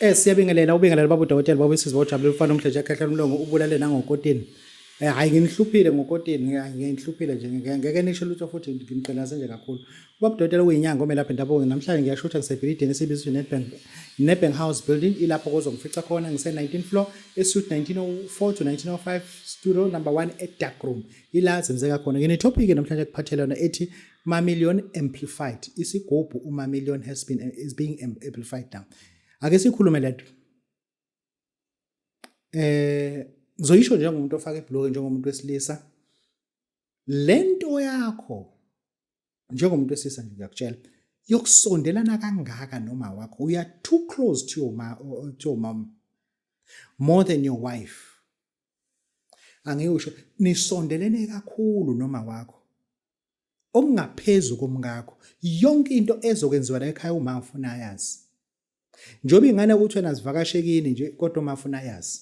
Eh siyabingelela ubingelela babu dokotela babu sisi bojabule ufana umdleje ekhehla umlongo ubulale nangokotini. Eh hayi nginihluphile ngokotini nginihluphile nje ngeke nisho lutho futhi ngimqela senje kakhulu. Babu dokotela uyinyanga omelaphi ndabuko namhlanje ngiyashutha ngisebhilidini esibizwa Nedbank Nedbank House Building ilapho kozongifica khona ngise 19 floor esuit 1904 to 1905 studio number 1 e dark room ila zenzeka khona. Ngine topic namhlanje kuphathelana ethi Mamillion amplified isigubhu uMamillion has been is being amplified now ake sikhulume lento eh ngizoyisho njengomuntu ofaka ibloke njengomuntu wesilisa lento yakho njengomuntu wesilisa nje ngiyakutshela yokusondelana kangaka noma wakho uya too close to your ma to your mom more than your wife angiyusho nisondelene kakhulu noma wakho okungaphezu komkakho yonke into ezokwenziwa la ekhaya uma ufuna ayazi njengoba ingane ukuthi wena zivakashekini nje kodwa uma ufuna ayazi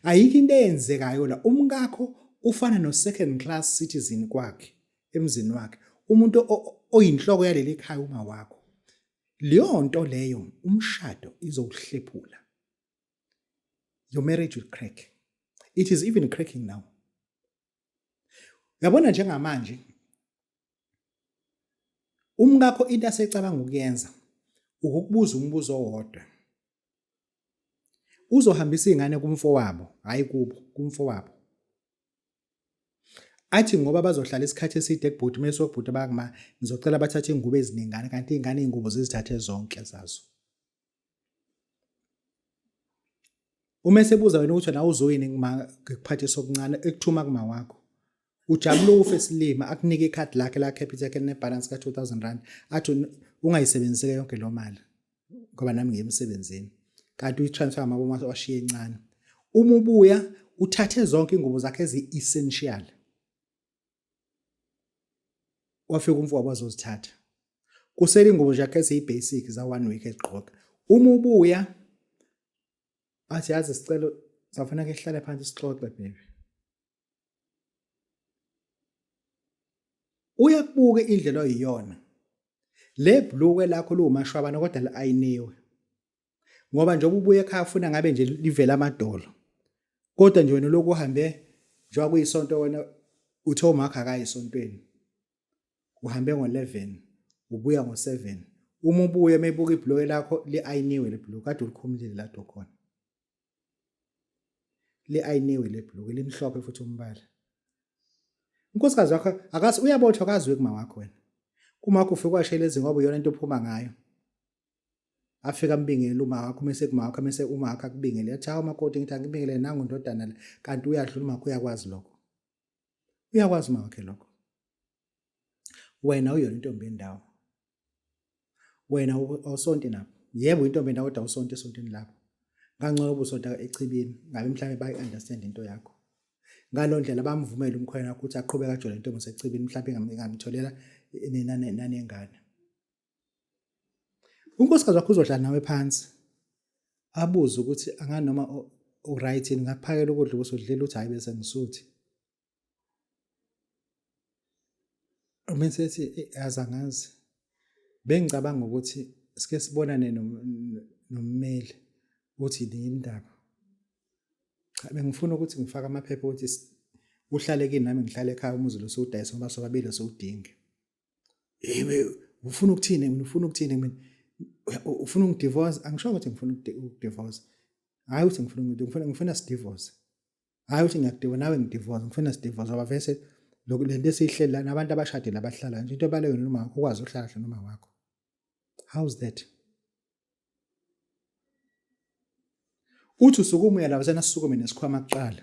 ayikho into eyenzekayo la umkakho ufana no second class citizen kwakhe emzini wakhe umuntu oyinhloko yaleli ekhaya uma wakho leyo nto leyo umshado izowuhlephula your marriage will crack it is even cracking now Uyabona njengamanje umkakho into asecabanga ukuyenza ukukubuza umbuzo owodwa. Uzohambisa izingane kumfowabo, hayi kubo, kumfowabo. Athi ngoba bazohlala isikhathi eside kubhuti mase ubhuti bakuma ngizocela bathathe ingubo eziningana kanti izingane izingubo zizithathe zonke zazo. uma esebuza wena ukuthi nawe uzoyini ngikuphathisa okuncane ekuthuma kuma wakho ujabule ufe silima akunike ikhadi lakhe la capital yakhe nebalance ka 2000 rand athi ungayisebenziseke yonke lo mali ngoba nami ngiyemsebenzini kanti uyitransfer amaboma washiye encane uma ubuya uthathe zonke ingubo zakhe ezi-essential wafika umfowabo azozithatha kusele ingubo zakhe eziyi-basic za-one week ezigqoka uma ubuya athi yazi sicelo safanele ke sihlale phansi sixoxe baby uyakubuka indlela oyiyona le bhluke lakho liwumashwabana kodwa li-ayiniwe ngoba njengoba ubuye ekhaya ufuna ngabe nje livele amadolo kodwa nje wena lokhu uhambe njengoba kuyisonto wena uthe umakho akayi esontweni uhambe ngo-11 ubuya ngo-7 uma ubuye meyibuka ibhuloke lakho li-ayiniwe le bhuloke kade ulikhumulile lado khona li-ayiniwe le bhuloke limhlophe futhi umbala unkosikazi wakho akazi uyabothwa akaziwe kuma wakho wena kumakho ufike kwashela ezingoba iyona into ophuma ngayo afika ambingele umakho mese kumakho mese umakho akubingele yathi hawu makoti ngithi angibingele nangu ndodana le kanti uyadlula umakho uyakwazi lokho uyakwazi umakhe lokho wena uyona intombi yendawo wena awusonti lapho yebo intombi yendawo kodwa awusonti esontini lapho ngangcono ubusonta echibini ngabe mhlawumbe bayi-understand into yakho ngalo ndlela bamvumele umkhwena ukuthi aqhubeke ajole intombi sechibini mhlawumbe ingamtholela nina nanengane unkosikazi wakho uzodlala nawe phansi abuze ukuthi anganoma uright yini ngakuphakela ukudla ukuthi udlela ukuthi hhayi bese ngisuthi uma sethi yazi angazi bengicabanga ukuthi sike sibonane nommeli ukuthi yini indaba cha bengifuna ukuthi ngifake amaphepha ukuthi uhlale kini nami ngihlale ekhaya umuzi lo siwudayisa ngoba sobabili siwudinge hey ufuna ukuthini mina ufuna ukuthini mina ufuna ungidivorce angisho ukuthi ngifuna ukudivorce hayi ukuthi ngifuna ukuthi ngifuna ngifuna sidivorce hayi ukuthi ngiyakudivorce nawe ngidivorce ngifuna sidivorce ngoba vese lokhu lento esiyihleli lana abantu abashadile abahlala nje into ebaleyo noma ukwazi ukuhlala noma wakho how's that uthi usukume uyalabazana asisukume nesikhwama kuqala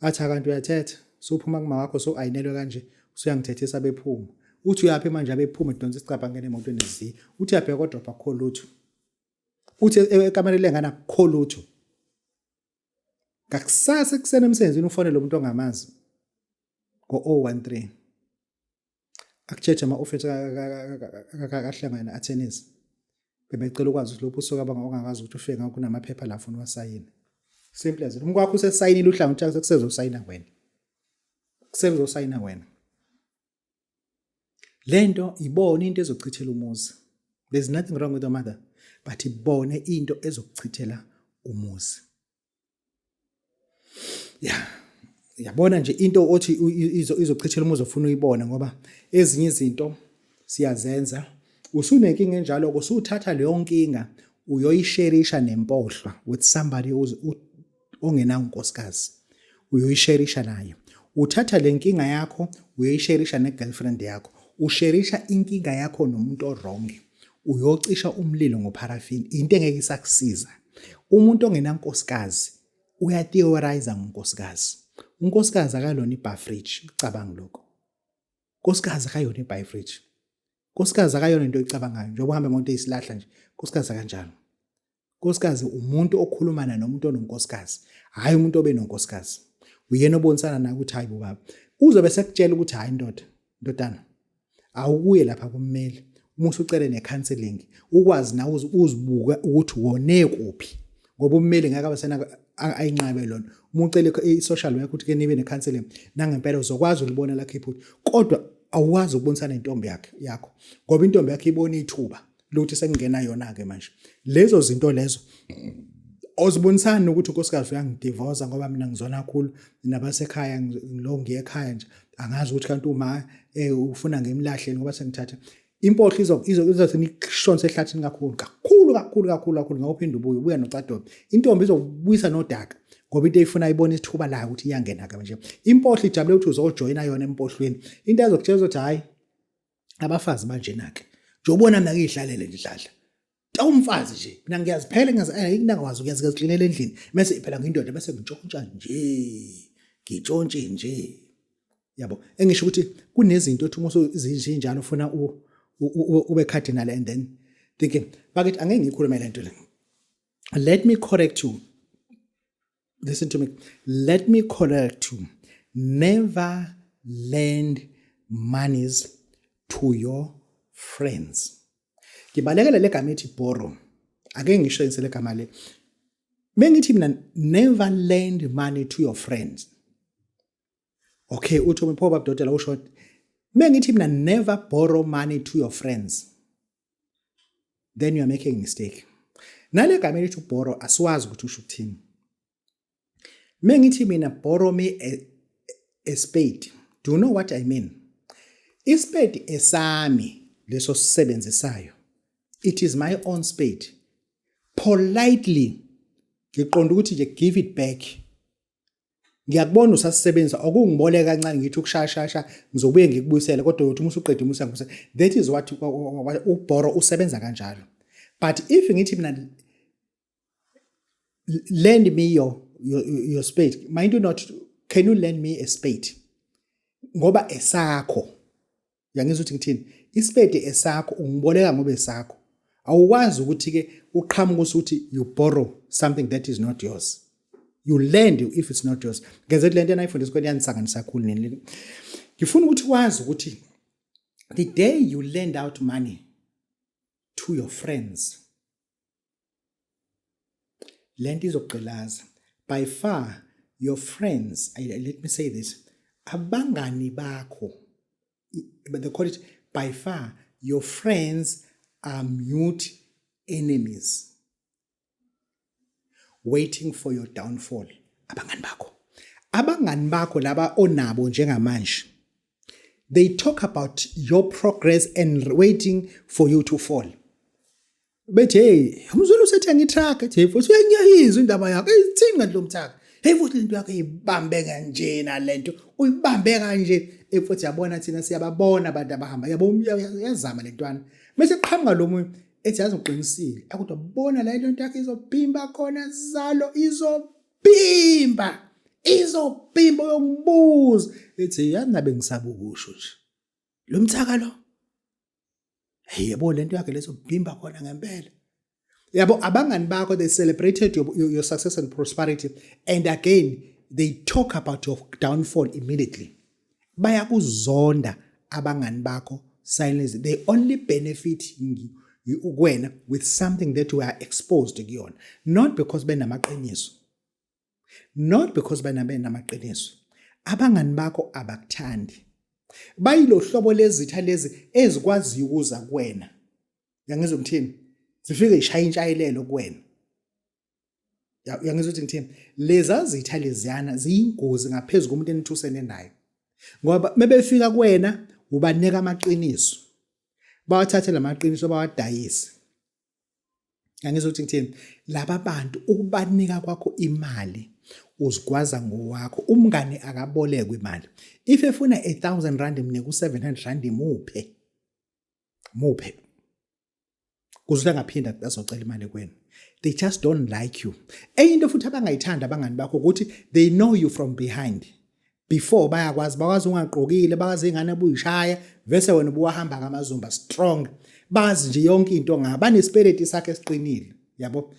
athi akanti uyathetha suphuma kuma wakho so ayinelwe kanje usuyangithethisa bephuma uthi uyaphi manje abephuma edonsa isicabha ngene emotweni ezi uthi uyabheka kodwa akukho lutho uthi e-, e-, ekamereni lengane akukho lutho ngakusasa ekuseni emsebenzini ufonele umuntu ongamazi ngo-013 Akucheche ama office akahlangana attorneys. Bebecela ukwazi ukuthi lophu usuka banga ongakazi ukuthi ufike ngakho kunamaphepha la ufuna wasayina. Simple as it. Umkwakho usesayinile uhlangothi yakhe sekusezosayina wena. Sekusosayina wena. Lento ibona into ezochithela umuzi. There's nothing wrong with your mother, but ibone into ezokuchithela umuzi. ya yabona nje into othi izochithela uma uzofuna uyibone ngoba ezinye izinto siyazenza usunenkinga enjalo kusuthatha leyo nkinga uyoyisherisha nempohlwa with somebody ongenawo unkosikazi uyoyisherisha naye uthatha le nkinga yakho uyoyisherisha ne-girlfriend yakho usherisha inkinga yakho nomuntu orongi uyocisha umlilo ngopharafini into engeke isakusiza umuntu ongenankosikazi uyatheorize ngonkosikazi unkosikazi akalona ibafridge ucabanga lokho nkosikazi akayona ibafridge nkosikazi akayona into oyicabangayo njengoba uhambe ngonto eyisilahla nje nkosikazi akanjalo Nkosikazi umuntu okhulumana nomuntu ononkosikazi, hhayi umuntu obe nonkosikazi. Uyena obonisana naye ukuthi hhayi bobaba. Uzobe sekutshela ukuthi hhayi ndoda, ndodana, awukuye lapha kummeli. Uma usucele ne-counseling, ukwazi nawe uzibuka ukuthi wone kuphi. Ngoba ummeli ngeke abe sena ayinqabe lona. Uma ucele i-social work ukuthi ke nibe ne-counseling, nangempela uzokwazi ulibona lakhe iphutha. Kodwa awukwazi ukubonisana nentombi yakhe yakho ngoba intombi yakhe ibona ithuba luthi sekungena yona ke manje lezo zinto lezo ozibonisani ukuthi unkosikazi uyangidivoza ngoba mina ngizona kakhulu nabasekhaya ngilo ngiye ekhaya nje angazi ukuthi kanti uma eh, ufuna ngimlahleni ngoba sengithatha impohlo izo izo izothi nikushonse ehlathini kakhulu kakhulu kakhulu kakhulu kakhulu ngawuphinda ubuye ubuya nocadobe intombi izobuyisa nodaka ngoba into eyifuna ibona isithuba layo ukuthi iyangena ke manje impohlo ijabule ukuthi uzojoyina yona empohlweni into ezokutshela ukuthi hayi abafazi banjena ke nje ubona mina ngiyihlalele nje dladla tawumfazi nje mina ngiyaziphela ngingawazi kuyazi ngiyazixinela endlini bese iphela ngindoda bese ngitshontsha nje ngitshontshe nje yabo engisho ukuthi kunezinto othi uma uzinjalo ufuna ube cardinal and then thinking bakithi angeke ngikhulume lento le let me correct you listen to me let me correct you never lend monies to your friends ngibalekele le gama ethi borrow ake ngisho insele gama le bengithi mina never lend money to your friends okay uthi umphoba bdodela usho bengithi mina never borrow money to your friends then you are making a mistake nale gama elithi ubhoro asiwazi ukuthi usho ukuthini me ngithi mina borrow me a, a spade do you know what i mean ispade esami leso sisebenzisayo it is my own spade politely ngiqonda ukuthi nje give it back ngiyakubona usasisebenzisa okungiboleka kancane ngithi ukushayashasha ngizobuye ngikubuyisele kodwa uyothi uma usuqeda umusa ngibuse that is what ubhoro usebenza kanjalo but if ngithi mina lend me your, your, your spade mind you not can you lend me a spade ngoba esakho uyangizwa ukuthi ngithini isipede esakho ungiboleka ngoba esakho awukwazi ukuthi ke uqhamuka usuthi you borrow something that is not yours you lend if it's not yours ngeze lento enayifundisa kweni yanisanganisa kakhulu nini ngifuna ukuthi wazi ukuthi the day you lend out money to your friends le nto izokugqilaza by far your friends I, let me say this abangani bakho but they call it by far your friends are mute enemies waiting for your downfall abangani bakho abangani bakho laba onabo njengamanje they talk about your progress and waiting for you to fall bethi hey umzulu usethenga itruck ethi hey futhi uyanyayizwa indaba yakho ithini kanti lo mthaka hey futhi lento yakho ibambe kanjena lento uyibambe kanje efuthi yabona thina siyababona abantu abahamba yabo uyazama lentwana mase qhamuka lo munye ethi yazi uqinisile akudwa bona la lento yakho izobhimba khona zalo izo bhimba izobhimba yokubuza ethi yanabe ngisabukusho nje lo mthaka lo hey yebo lento yakhe lezobhimba khona ngempela yabo abangani bakho they celebrated your, your, your success and prosperity and again they talk about your downfall immediately bayakuzonda abangani bakho silence they only benefit kuwena with something that you are exposed kuyona not because benamaqiniso not because benamaqiniso abangani bakho abakuthandi bayilo hlobo lezitha lezi ezikwaziyo ukuza kuwena yangizwa ngithini zifike ishaya intshayelelo kuwena uyangizwa ukuthi ngithini leza zitha leziyana ziyingozi ngaphezu komuntu enithusene naye ngoba mebefika kuwena ubanika amaqiniso bawathathe lamaqiniso bawadayise ngangizwa ukuthi ngithini laba bantu ukubanika kwakho imali uzigwaza ngowakho umngane akabolekwe imali if efuna 1000 rand mnike u700 rand muphe muphe kuze angaphinda azocela imali kwenu they just don't like you enye into futhi abangayithanda abangani bakho ukuthi they know you from behind before bayakwazi bakwazi ungaqokile bakwazi ingane buyishaya vese wena ubuwahamba ngamazumba strong bazi nje yonke into ngaba nesipeleti sakhe esiqinile yabo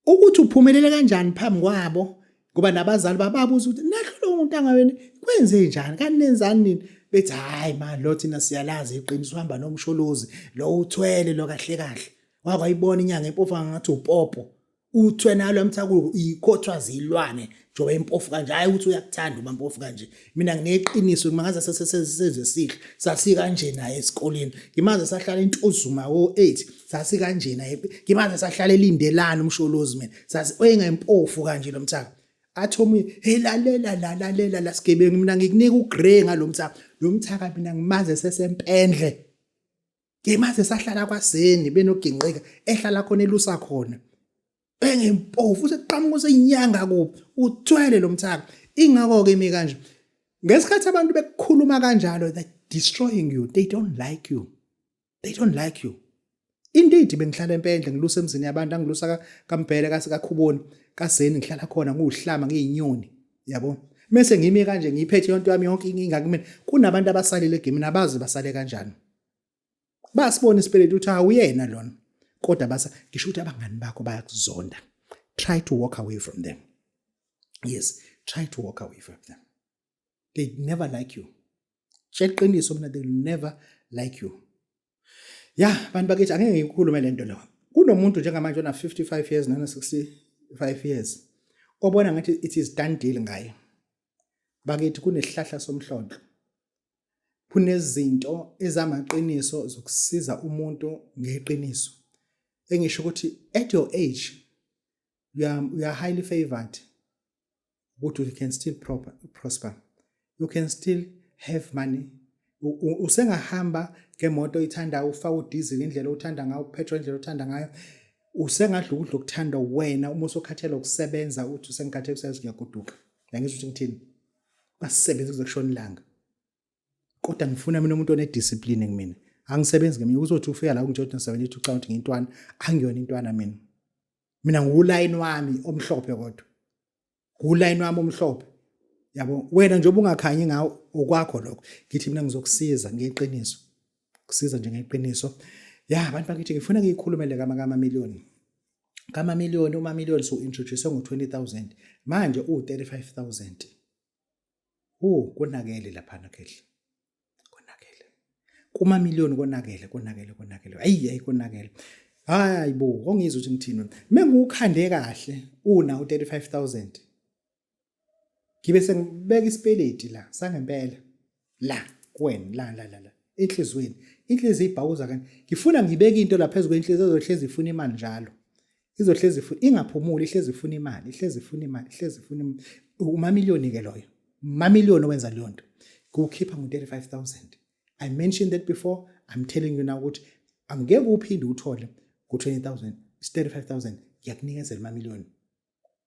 Ukuthi uphumelele kanjani phambi kwabo ngoba nabazali bababuza ukuthi nahlule umuntu angawena kwenze njani kanti nenzani nini bethi hayi mani lo thina siyalazi iqiniso uhamba nomsholozi lo uthwele lo kahle kahle wakwayibona inyanga empofu ngathi upopo uthwe nalo emthakulu ikhothwa zilwane njengoba impofu kanje hhayi ukuthi uyakuthanda uma mpofu kanje mina ngineqiniso ngimangaza sesesezwe sihle sasikanje naye esikoleni ngimaze sahlala intuzuma wo-eight sasikanje naye ngimaze sahlala elindelani umsholozi mina sasingayimpofu kanje lo mthaka athi omunye hey lalela la lalela la sigebengu mina ngikunika ugrey ngalo mthaka lo mthaka mina ngimaze sesempendle ngimaze sahlala kwaseni benogingqika ehlala khona elusa khona bhenge mpofu useqhamuka usenyanga kuphi uthwele lo mthaka ingakho ke imi kanje ngesikhathi abantu bekukhuluma kanjalo they destroying you they don't like you they don't like you indeed bengihlala empendle ngilusa emzini yabantu angilusa kambhele kasikakhuboni kaseni ngihlala khona ngiwuhlama ngiyinyoni yabo mese ngimi kanje ngiyiphethe yonke yami yonke inkinga kumina kunabantu abasalile egimini abazi basale kanjani basibona isipeletu ukuthi awuyena lona kodwa basa ngisho ukuthi abangani bakho bayakuzonda try to walk away from them yes try to walk away from them they never like you tsheliqiniso mina they never like you ya bantu bakithi angeke ngiyikhulume le nto lo kunomuntu njengamanje ona 55 years nana 65 years obona ngathi it is done deal ngaye bakithi kunesihlahla somhlonhlo Kunezinto ezamaqiniso zokusiza umuntu ngeqiniso. Engisho ukuthi at your age you are, you are highly favored ukuthi you can still proper, prosper. You can still have money. Usengahamba ngemoto ithanda ufaka udizili indlela othanda ngayo, upetrol indlela othanda ngayo. Usengadla ukudla okuthanda wena uma usokhathela ukusebenza uthi usengikhathele ukusebenza ngiyagoduka. Ngiyangizwa ukuthi ngithini. basisebenze kuze kushona ilanga kodwa ngifuna mina umuntu onediscipline kumina angisebenzi ngeminye kuzothi ufika la kunje 72 count ngintwana angiyona intwana mina mina ngulayini wami omhlophe kodwa ngulayini wami omhlophe yabo wena nje ubungakhanyi ngawo okwakho lokho ngithi mina ngizokusiza ngeqiniso kusiza nje ngeqiniso ya abantu bakithi ngifuna ngiyikhulumele kamakamameliyoni kamamiliyoni umamiliyoni siwu-introduce ngo-20000 manje uwu-35000 hu konakele laphana khehla konakele kumamiliyoni konakele konakele konakele ayi ayi konakele hayi bo ongizwa ukuthi ngithini mina ngiwukhande kahle una u-35000 ngibe sengibeka isipeleti la sangempela la kuwena la la la la enhlizweni inhliziyo ibhawuza kanti ngifuna ngibeke into la phezu kwenhliziyo ezohlezi ifuna imali njalo izohlezi ifuna ingaphumuli ihlezi ifuna imali ihlezi ifuna imali ihlezi ifuna imali umamiliyoni ke loyo umamiliyoni owenza leyo nto kuwukhipha ngo-35000 i mentioned that before i'm telling you now ukuthi angeke uphinde uthole ku-20000 is 35000 ngiyakunikezela umamiliyoni